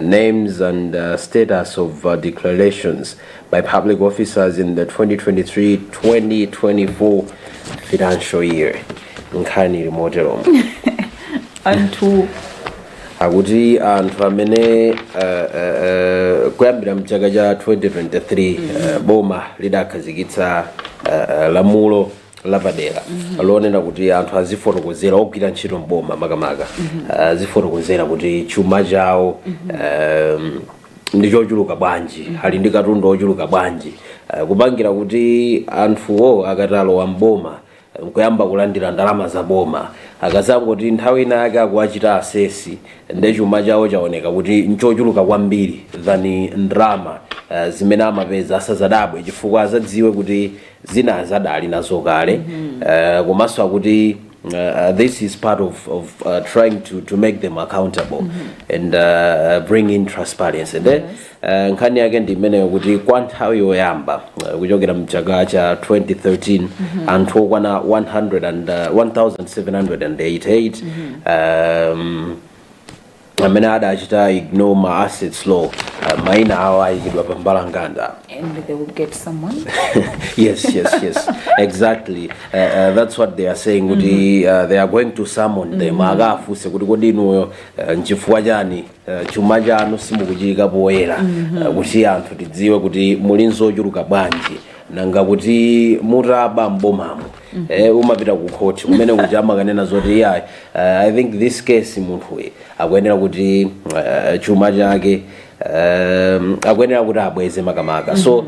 names and uh, status of uh, declarations by public officers in the 2023-2024 financial year nkhani ili moteromo akuti anthu amene eh, eh, eh, kuyambira mchaka cha 2023 eh, boma lidakhazikitsa eh, eh, lamulo lapadera lonena kuti anthu azifotokozera ogwira ntchito mboma makamaka azifotokozera kuti chuma chawo em, ndi chochuluka bwanji ali ndi katundu ochuluka bwanji Eh, kupangira kuti anthuwo akatalowa mboma nkuyamba kulandira ndalama za boma akazangoti nthawi ina yake akuwachita asesi nde chuma chawo chaoneka kuti nchochuluka kwambiri than ndalama eh, zimene amapeza asazadabwe chifukwa azadziwe kuti zina azadali nazo kale uh, komanso akuti uh, this is part of, of uh, trying to, to make them accountable and uh, bring in transparency nde uh, nkhani yake ndi imeneyo kuti kwa nthawi yoyamba uh, kuchokera mchaka cha 2013 anthu okwana 100 and, uh, 1788 um, amene adachita ignore ma assets law uh, maina awo ayikidwa pa mbalanganda and they will get summoned yes yes yes exactly uh, uh, that's what they are saying kuti uh, they are going to summon them akafunse kuti kodi inuyo uh, nchifukwa chani uh, chuma chanu simukuchiyika poyera uh, kuti anthu tidziwe kuti muli nzochuluka bwanji nanga kuti mutaba m'bomamo eh, umapita ku court kumene kuti amakanena zoti yeah, uh, i think this case munthu uyu akuyenera kuti uh, chuma chake um, akuyenera kuti abweze makamaka so uh,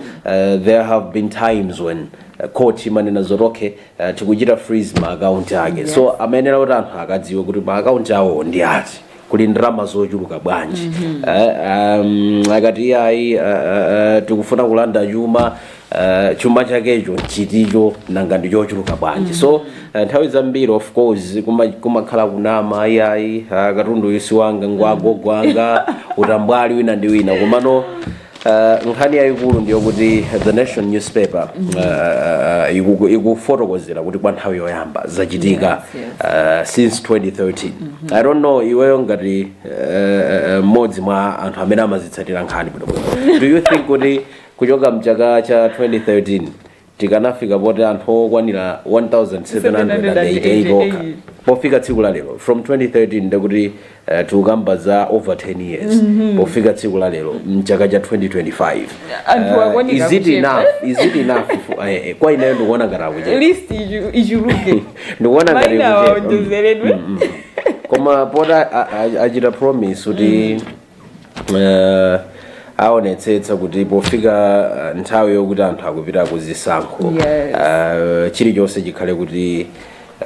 there have been times when uh, court imanena zoti okay uh, tikuchita freeze ma account ake so amayenera kuti anthu akadziwe kuti ma account awo ndi ati kuli ndalama zochuluka bwanji Eh, um, akati iyayi eh, eh, eh, tikufuna kulanda chuma eh, chuma chakecho nchiticho nanga ndi chochuluka bwanji so eh, nthawi zambiri of course kuma- kumakhala kunama iyayi ah, katundu uyu si wanga ngwagogo anga utambwali wina ndi wina komano Uh, nkhani yayikulu ndiyokuti the nation newspaper mm -hmm. uh, ikufotokozera kuti kwa nthawi yoyamba zachitika yes, yes. Uh, since 2013 mm -hmm. i don't know iweyo ngati mmodzi uh, mwa anthu amene amazitsatira nkhani bwinobwino do you think kuti kuchoka mchaka cha 2013 tikanafika poti anthu okwanira 1788 okha pofika tsiku la lero from 2013 ndekuti uh, tikukamba za over 10 years pofika tsiku la lero mchaka cha 2025 Anthu Uh, akwanira is it kuchepa. enough is it enough Fu- eh, eh, kwa ineyo ndikuona ngati akuchepa list ichu- ichuluke ndikuona ngati maina akuchepa. aonjezeredwe koma pota a- a- achita promise kuti eh, aonetsetsa kuti pofika eh, nthawi yokuti anthu akupita kuzisankho Yes. eh, chilichonse chikhale kuti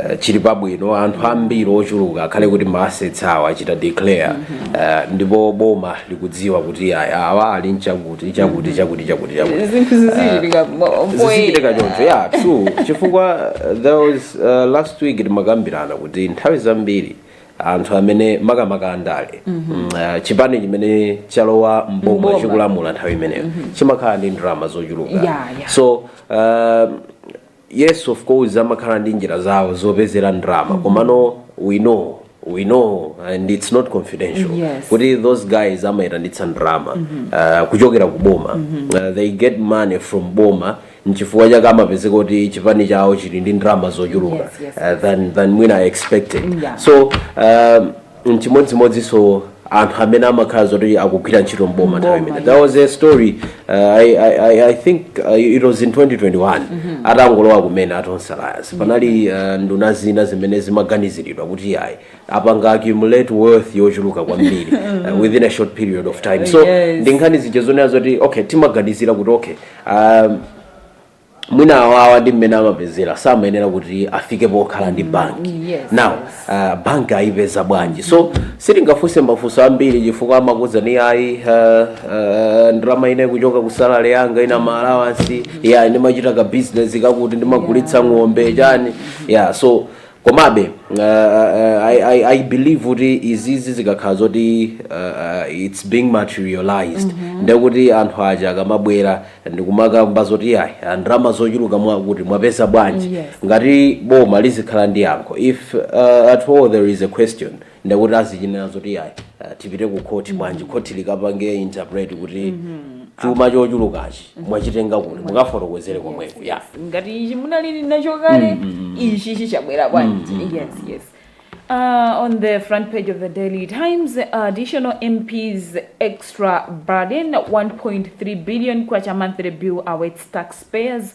eh, chili pabwino anthu ambiri ochuluka akhale kuti maasetsi awo achita declare eh, ndipo boma likudziwa kuti aya, awa ali nchakuti chakuti chakuti chakuti chakuti zinthu zizichitika zizichitika choncho yeah true chifukwa uh, there was uh, last week timakambirana kuti nthawi zambiri anthu amene makamaka andale mm, ah, chipani chimene chalowa mboma Mboma. chikulamula nthawi imeneyo chimakhala ndi ndalama zochuluka Yeah, yeah. so ah, yes of course amakhala ndi njira zawo zopezera ndalama komano we know we know and it's not confidential Yes. kuti those guys amayitanitsa ndalama ah, kuchokera ku boma Ah, they get money from boma nchifukwa chake amapezeka kuti chipani chawo chili ndi ndalama zochuluka yes, yes. uh, than, than mwina expected yeah. so um, nchimodzimodzinso anthu amene amakhala zoti akugwira ntchito mboma nthawi imene there was a story uh, I, I, I think uh, it was in 2021 mm -hmm. atangolowa kumene atonse alliance panali uh, nduna zina zimene zimaganiziridwa kuti ayi apanga accumulate wealth yochuluka kwambiri uh, within a short period of time so yes. ndi nkhani zija zonena zoti okay timaganizira kuti okay um, mwina awawa ndi mmene amapezera samayenera kuti afike pokhala ndi banki yes, now uh, banki ayipeza bwanji so sitingafunse mafunso ambiri chifukwa amakuuza nde ayi uh, uh, ndalama ina kuchoka ku salary yanga ina ma allowance ya ndimachita ka business kakuti ndimagulitsa ng'ombe chani ya so komabe uh, uh, I, I, i believe kuti izizi zikakhala zoti uh, uh, its being materialized mm -hmm. ndekuti anthu aja akamabwera ndikumakamba zoti yayi ndrama zochuluka mwakuti mwapeza bwanji Yes. ngati boma lizikhala ndi yankho if uh, at all there is a question ndekuti azizanena zoti yayi ah, tipite ku khoti bwanji khoti likapange interpret kuti chuma chochulukachi mwachitenga kuti mukafotokozere komweko ya ngati ichi munalili nacho kale ichi chikubwera bwanji yes yes Uh, on the front page of the Daily Times, additional MPs extra burden 1.3 billion kwacha monthly bill awaits taxpayers.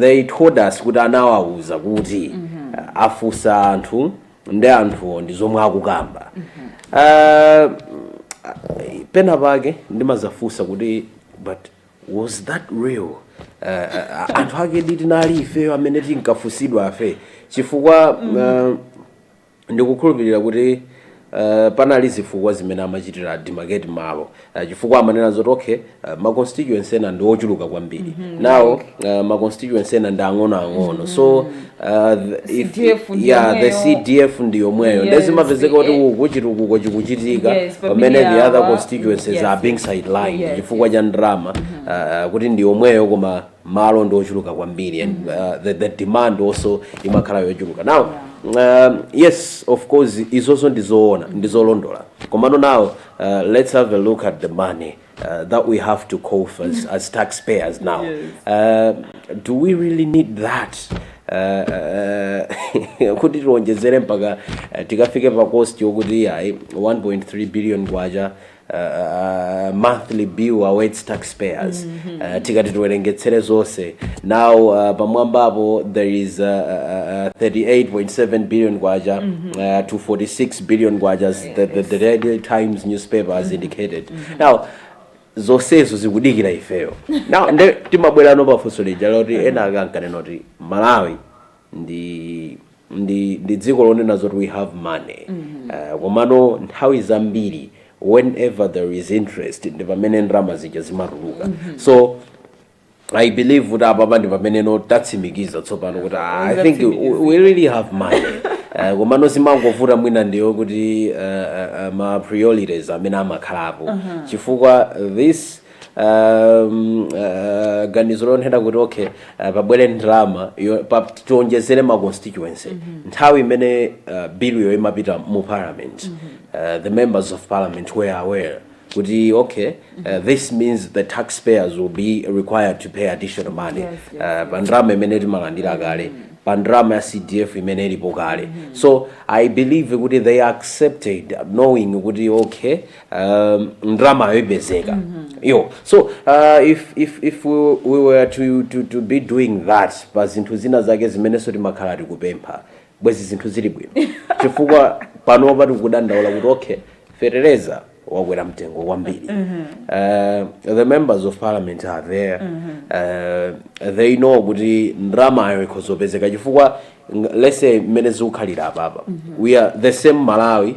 They told us kuti anawauza kuti afunsa anthu ndi anthuwo ndi zomwe akukamba Ah, pena pake ndimadzifunsa kuti but was that real Ah, ah, ah, anthu ake ndi tinali ifeyo amene tinkafunsidwafe chifukwa ah, Ndikukhulupirira kuti uh, panali zifukwa zimene amachitira demarcate malo uh, chifukwa amanena zoti okay uh, ma constituency ena ndi ochuluka kwambiri mm -hmm. now uh, ma constituency ena ndi ang'ono ang'ono mm -hmm. so uh, the, if, CDF ndi yeah, the yomweyo. CDF ndi yomweyo Yes, nde zimapezeka kuti eh. uku chitukuko chikuchitika Yes, pamene the pamene other awa- constituencies yes. are being sidelined Yes, chifukwa cha ndalama uh, kuti ndi yomweyo koma malo ndi ochuluka kwambiri and uh, the, the demand also imakhala yochuluka now um, yes of course izozo ndizoona ndizolondola komano now uh, let's have a look at the money uh, that we have to cough as, as taxpayers now uh, do we really need that Uh, uh, kuti tiwonjezere mpaka uh, tikafike pa cost yokuti ayi 1.3 billion kwacha uh, monthly bill awaits taxpayers mm -hmm. uh, tikati tiwerengetsere zonse now uh, pamwambapo there is uh, uh, 38.7 billion kwacha mm -hmm. uh, to 46 billion kwacha yes. the, the, the daily times newspaper has mm -hmm. indicated mm -hmm. now zonsezo zikudikira ifeyo now nde timabwerano pafunso lija loti ena akankanena kuti malawi ndi ndi ndi dziko lonena zoti we have money Eh, komano nthawi zambiri whenever there is interest ndi pamene ndalama zija zimatuluka so i believe kuti apapa ndi pamene no tatsimikiza tsopano kuti ah, i think we- we really have money Eh, komano zimangovuta mwina ndiyo kuti eh, eh, eh, ma priorities amene amakhalapo chifukwa this um, uh, ganizo lonena kuti okay uh, pabwere ndalama yo- pa- tionjezere ma constituency nthawi imene uh, bill yo imapita mu parliament uh, the members of parliament were aware kuti okay uh, this means the taxpayers will be required to pay additional money Yes, yes, uh, pa ndalama imene timalandira kale pa ndalama ya cdf imene ilipo kale so i believe kuti they accepted knowing kuti okay um, ndrama yo ipezeka mm -hmm. yo so uh, if, if, if we, we were to, to, to be doing that pa zinthu zina zake zimenenso timakhala tikupempha bwezi zinthu zili bwino chifukwa panopa tikudandaula kuti okay fetereza wakwera mtengo kwambiri mm -hmm. uh, the members of parliament are there mm -hmm. uh, they know kuti ndramayo ikhozopezeka chifukwa let's say mmene zikukhalira apapa mm -hmm. we are the same malawi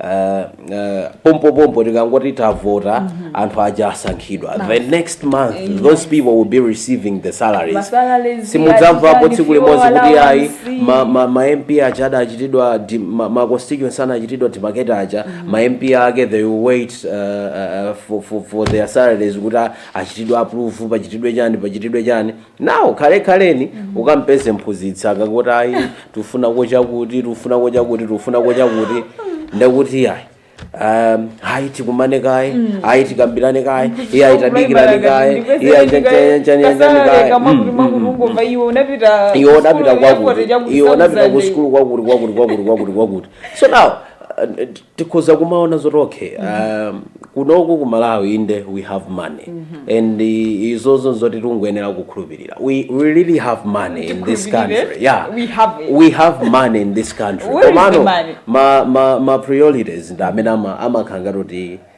Uh, uh, pompopompo tikangoti tavota anthu aja asankhidwa the next month those people will be receiving the salaries Masalary simudzamvapo zedi, tsiku limodzi kuti fuel ayi allowance. ma, ma, ma mp aja ada- achitidwa di- ma, ma constituency anachitidwa demarcate aja ma mp ake they will wait uh, uh, for, for, for their salaries kuti a- achitidwe approve pachitidwe chani pachitidwe chani now khalekhaleni ukampeze mphunzitsi akakuti ayi tufuna kochakuti tufuna kochakuti tufuna kochakuti ndekuti ayi Um, ayi tikumane kaye ayi tikambirane kaye iye ayi tidikirane kaye iye ayi chanchanyachani kaye Mm, mm, mm. mwakuti iwe unapita iwe unapita sukulu kwakuti chakuti iwe unapita ku chakuti sukulu kwakuti kwakuti kwakuti kwakuti kwakuti so now uh, tikhoza kumaona zoti okay um, kunoko ku malawi inde we have money and i- izozo zoti tingoyenera kukhulupirira we, we really have money in this Tikhulupirire. country yeah We have it. we have money in this country Where is the komano money? ma, ma, ma priorities ndi amene ama- amakhala ngati kuti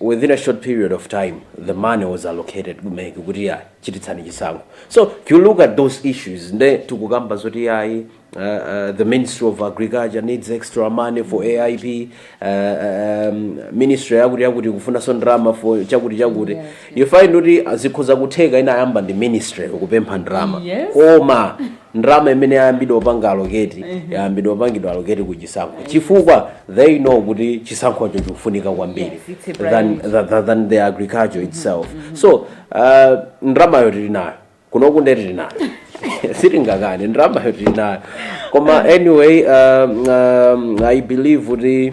within a short period of time the money was allocated ku mec kuti iya chititsani chisankho so if you look at those issues nde tikukamba zoti yayi uh, uh, the ministry of agriculture needs extra money for aip uh, um, ministry yakuti yakuti kufunanso ndalama for chakuti chakuti you find kuti zikhoza kutheka ina ayamba ndi ministry kupempha ndrama Yes. koma ndrama imene yayambidwa kupanga allocate yayambidwa kupangidwa allocate ku chisankho chifukwa they know kuti chisankhocho chikufunika kwambiri Yes, it's a than, priority. than, than, than the agriculture itself so uh, ndramayo tili nayo kunoko nde tili nayo sitingakane ndramayo tili nayo koma anyway um, um, i believe kuti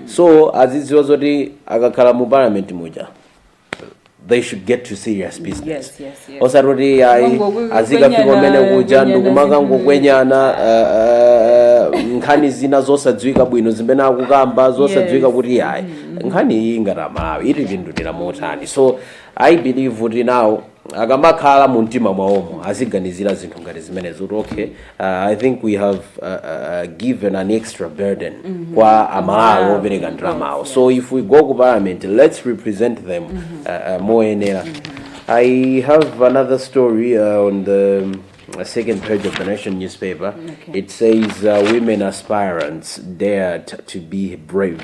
so azidziwa zoti akakhala mu parliament muja they should get to serious business Yes, yes, yes. osati kuti ayi Kungokwenyana, azikafika umene kuja kwenyana, ndikumakangokwenyana uh, uh, nkhani zina zosadziwika bwino zimene akukamba zosadziwika Yes. kuti iyayi nkhani iyi ngati amalawi itipindulira motani so i believe kuti nawo akamakhala mu mtima mwawomo aziganizira zinthu ngati zimenezo kuti okay uh, i think we have uh, uh, given an extra burden kwa amalawi opereka ndalamawo so if we go ku parliament let's represent them uh, uh, moyenera i have another story uh, on the um, second page of the nation newspaper it says uh, women aspirants dared to be brave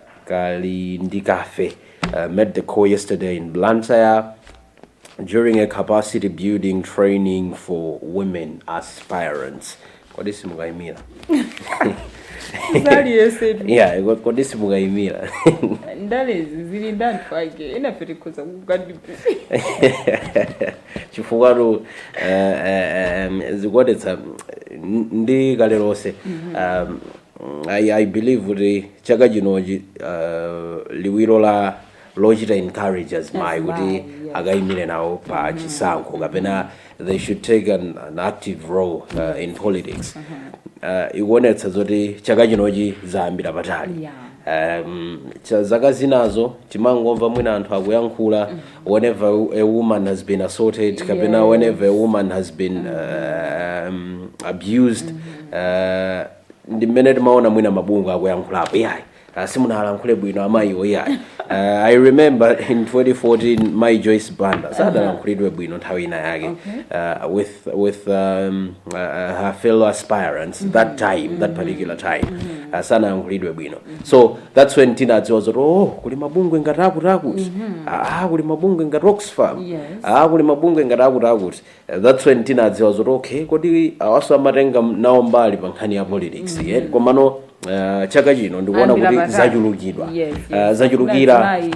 Kalindikafe uh, made the call yesterday in Blantyre during a capacity building training for women aspirants. Kodi simukaimira? Ndale iyesetu. Yeah, ko- kodi simukaimira? Ndale zili ndi anthu ake. Ina fiti kuza kukadipi. chifukwa tu uh, uh, um, zikuonetsa ndi kale lonse um, I I believe kuti chaka chino chi- uh, liwiro la lochita encourage azimayi kuti mayi, yes. akayimire nawo pa chisankho kapena they should take an, an active role uh, in politics uh, ikuonetsa zoti chaka chinochi zayambira patali Yeah. um, cha- zaka zinazo timangomva mwina anthu akuyankhula whenever a woman has been assaulted kapena Yes. whenever a woman has been um, abused uh, ndi mmene timaona mwina mabungwe akuyankhulapo iyayi uh, simunawalankhule bwino amayiwo iyayi uh, i remember in 2014 mai joyce banda sadalankhulidwe bwino nthawi ina yake uh, with, with um, uh, her fellow aspirants that time that particular time uh, sanalankhulidwe bwino so that's when tinadziwa zoti oh kuli mabungwe ngati akuti akuti ah kuli mabungwe ngati oxfam Yes. ah kuli mabungwe ngati akuti akuti Eh, that's when tinadziwa zoti okay kodi awanso amatenga nawo mbali pa nkhani ya politics yeah? komano eh, chaka chino ndikuona Ayambira kuti patatu. zachulukidwa Yes, yes. Eh, zachulukira Azimayi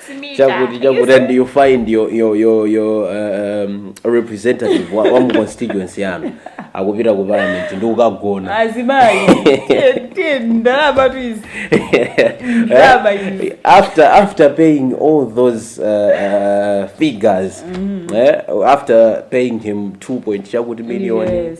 Simita. chakuti chakuti and you find your your your, your uh, um, representative wa, wa mu constituency yanu akupita ku parliament ndi ukagona azimayi ndalamatu izi Ndalama izi. after after paying all those uh, uh, figures eh, after paying him 2 point chakuti million Yes.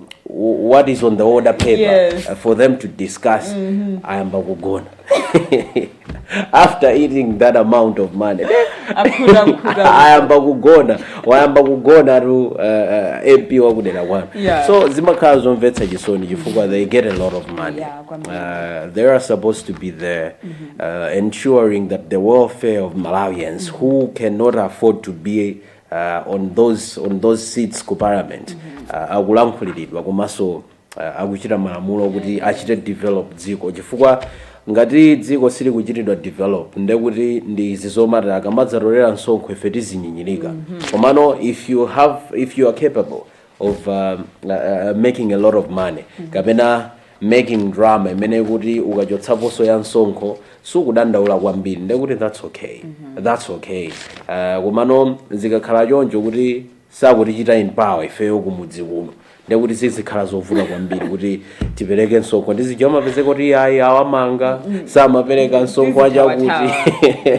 w- what is on the order paper Yes. uh, for them to discuss ayamba kugona after eating that amount of money Akhuta, akhuta. ayamba kugona wayamba kugona ri uh, uh, mp wakudera kwanu Yeah. so zimakhala zomvetsa chisoni chifukwa they get a lot of money Yeah, kwambiri. uh, they are supposed to be there uh, ensuring that the welfare of malawians who cannot afford to be uh, on those on those seats ku parliament mm -hmm. uh, akulankhuliridwa komanso uh, akuchita malamulo kuti achite develop dziko chifukwa ngati dziko sili kuchitidwa develop ndekuti ndi izi zomati akamadzatolera msonkho ife tizinyinyirika mm -hmm. komano if you have if you are capable of uh, uh, making a lot of money kapena making ndalama imene kuti ukachotsaponso ya msonkho sukudandaula kwambiri ndekuti that's okay that's okay uh, komano zikakhala choncho kuti sakutichita empower ifeyo kumudzi kuno ndekuti zizikhala zovuta kwambiri kuti tipereke msonkho ndi zija amapezeka kuti ayi awamanga samapereka msonkho achakuti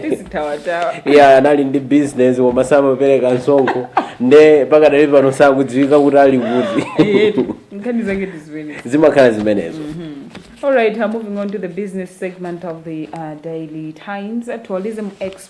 tizithawathawa iyayi anali ndi business koma samapereka msonkho nde pakadali pano sakudziwika kuti ali kuti Yetu, nkhani zake ndi zimene zimakhala zimenezo All right, uh, moving on to the business segment of the uh, Daily Times. Uh, Tourism Expo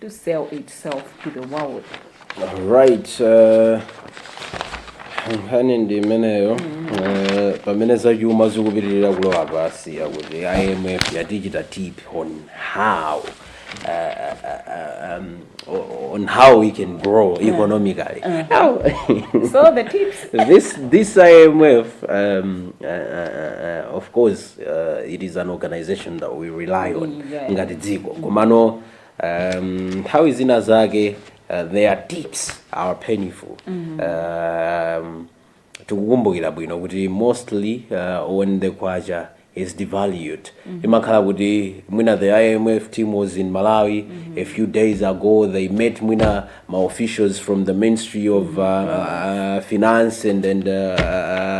to sell itself to the world. Alright, uh, nkhani ndi imeneyo uh, pamene zachuma zikupitirira kulowa pasi akuti imf yatichita tip on how uh, uh, um, o- on how we can grow economically How? So the tips. this this IMF, um, uh, uh, uh, of course, uh, it is an organization that we rely on. Yeah. Ngati dziko, komano um, nthawi zina zake uh, their tips are painful um, tikukumbukira bwino kuti mostly uh, when the kwacha is devalued imakhala kuti mwina the imf team was in malawi a few days ago they met mwina ma officials from the ministry of uh, uh, finance and, and uh,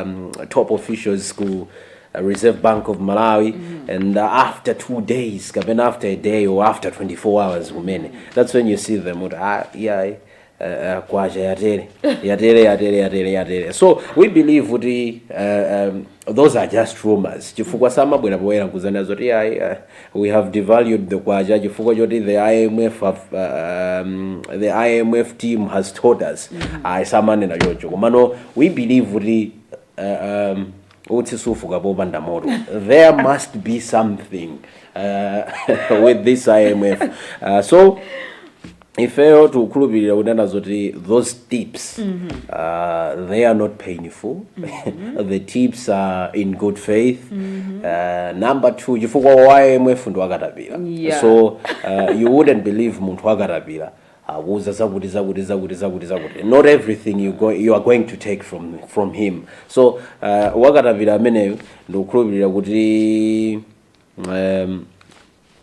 um, top officials ku Reserve Bank of Malawi and uh, after two days kapena after a day or after 24 hours kumene that's when you see them kuti ah, yeah, uh, uh, kwacha yatere yatere yatere yatere yatere so we believe kuti uh, um, those are just rumors chifukwa samabwera poyera kuzana zoti yeah, yeah, we have devalued the kwacha chifukwa choti the imf have, uh, um, the imf team has told us mm -hmm. ayi samanena chocho komano we believe kuti uh, um, utsi sufuka popanda moto there must be something uh, with this imf uh, so ifeyo tikukhulupirira kunena zoti those tips mm -hmm. uh, they are not painful mm -hmm. the tips are in good faith mm -hmm. uh, number two chifukwa wa imf ndi wakatapira yeah. so uh, you wouldn't believe munthu wakatapira akuuza zakuti zakuti zakuti zakuti zakuti not everything you, go, you are going to take from, from him so uh, wakatapila ameneyo ndikukhulupirira kuti um,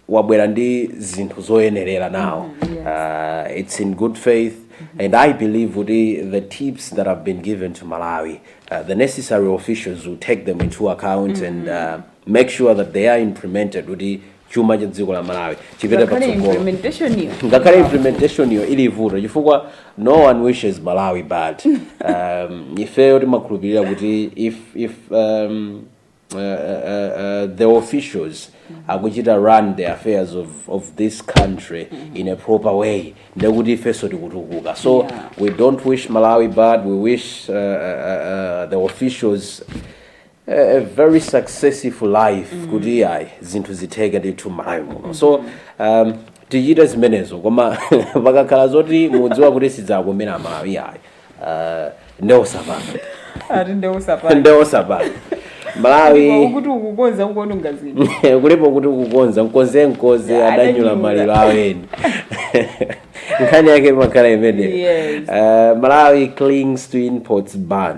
wabwera ndi zinthu zoyenerera now uh, it's in good faith and i believe kuti the tips that have been given to malawi uh, the necessary officials will take them into account and uh, make sure that they are implemented kuti chuma cha dziko la malawi chipite ngakhale patsogolo implementation iyo ngakhale implementation iyo ili vuto chifukwa no one wishes malawi bad um, ifeyo timakhulupirira kuti if, if um, uh, uh, uh, the officials akuchita run the affairs of, of this country in a proper way ndekuti ifenso tikutukuka so Yeah. we don't wish malawi bad we wish uh, uh, uh, the officials a, a very successful life mm. kuti ayi zinthu zitheke ndithu malawi muno so um, tichite zimenezo koma pakakhala zoti mudziwa kuti sidzakomera amalawi ayi uh, ndewosapana ati ndeusapaa ndewosapana malawi ukuti ukukonza ukuononga zinthu kulipo kuti ukukonza mkonze mkonze Ya, adanyula adanyula. maliro aweni nkhani yake imakhala imeneyo Yes. Eh, malawi clings to imports ban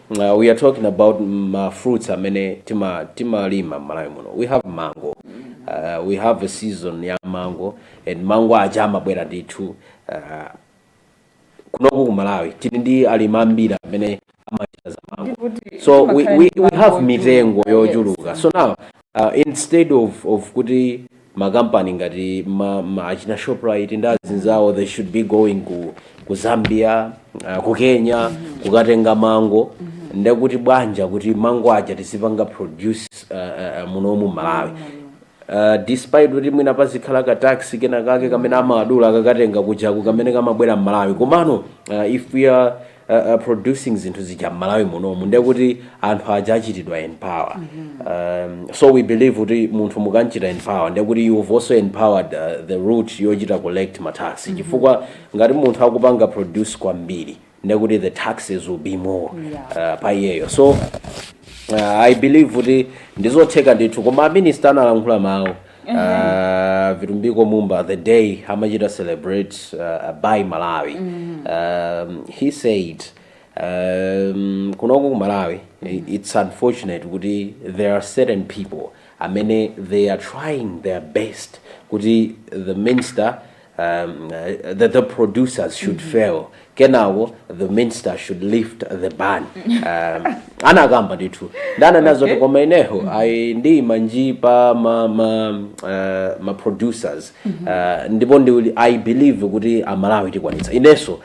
we are talking about ma fruits amene tima timalima mmalawi muno we have mango uh, we have a season ya mango and mango aja amabwera ndithu uh, kunoku ku malawi tili ndi alimi ambiri amene amachita za mango so we, we, we have mitengo yochuluka so now uh, instead of, of kuti makampani ngati ma, ma achina shoprite ndi azinzawo they should be going ku, ku zambia uh, ku kenya kukatenga mango ndekuti bwanji kuti mango aja tizipanga produce uh, uh, uh, munomu malawi Uh, despite kuti mwina pazikhala ka tax kena kake kamene amadula akakatenga kujaku kamene kamabwera mmalawi komano uh, if we are producing zinthu zija mmalawi munomu ndekuti anthu aja achitidwa empower um, so we believe kuti munthu mukamchita empower ndekuti you've also empowered uh, the route yochita collect matax chifukwa ngati munthu akupanga produce kwambiri ndekuti the taxes will be more uh, pa iyeyo so uh, i believe kuti ndizotheka ndithu koma aminista analankhula mawu Uh, vitumbiko mumba the day amachita celebrate uh, by malawi um, he said um, kunoko ku malawi i- it's unfortunate kuti there are certain people amene they are trying their best kuti the minister um, uh, the, the producers should fail kenako the minister should lift the ban um, anakamba ndithu ndadana nazo Okay. koma ineho ayi ndiyima nji pa ma, ma, uh, ma producers uh, ndipo ndiuli i believe kuti amalawi tikwanitsa inenso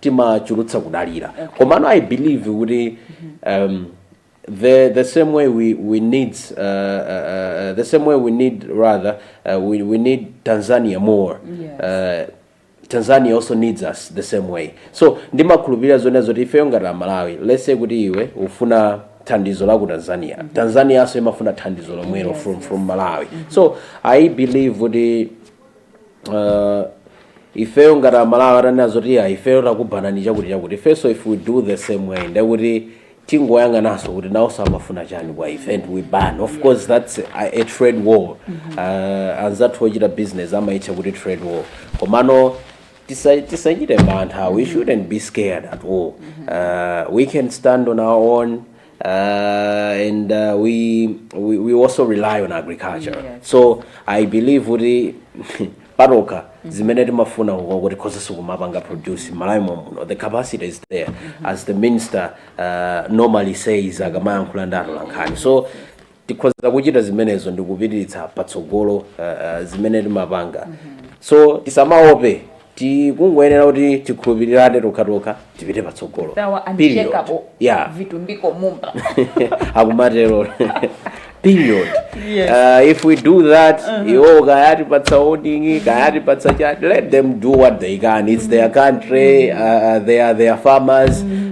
timachulutsa kudalira okay. komano i believe kuti um, the the same way we we need uh, uh, uh, the same way we need rather uh, we we need Tanzania more. Yes. Uh, Tanzania also needs us the same way. So ndimakhulupirira zone zoti ifeyo ngati Malawi let's say kuti iwe ufuna thandizo la ku Tanzania. Mm -hmm. Tanzania aso imafuna thandizo lomwelo yes, from yes. from Malawi. Mm -hmm. So I believe kuti uh, ifeyo ngati amalawi atanena zoti ya ifeyo takubhanani chakuti chakuti ifenso if we do the same way ndekuti tingoyang'ananso kuti nawonso amafuna chani kwa ife and we ban of course that's a, a trade war uh, anzathu ochita business amaitcha kuti trade war komano tisa- tisachite mantha we shouldn't be scared at all uh, we can stand on our own uh, and uh, we, we we also rely on agriculture Yes. so i believe kuti patoka zimene timafuna kukoko tikhozeso kumapanga produce malawi momuno the capacity is there as the minister uh, normally says akamayankhula ndi atolankhani so tikhoza kuchita zimenezo ndi kupitiritsa patsogolo uh, uh, zimene timapanga mm -hmm. so tisamaope tikungoyenera kuti tikhulupirirane tokha tokha tipite patsogolo yeah. vitumbiko mumba akumatero period yes. uh, if we do that uh -huh. iwo kaya atipatsa warning kaya atipatsa chani let them do what they can it's mm -hmm. their country mm-hmm. uh, uh, they are their farmers mm -hmm.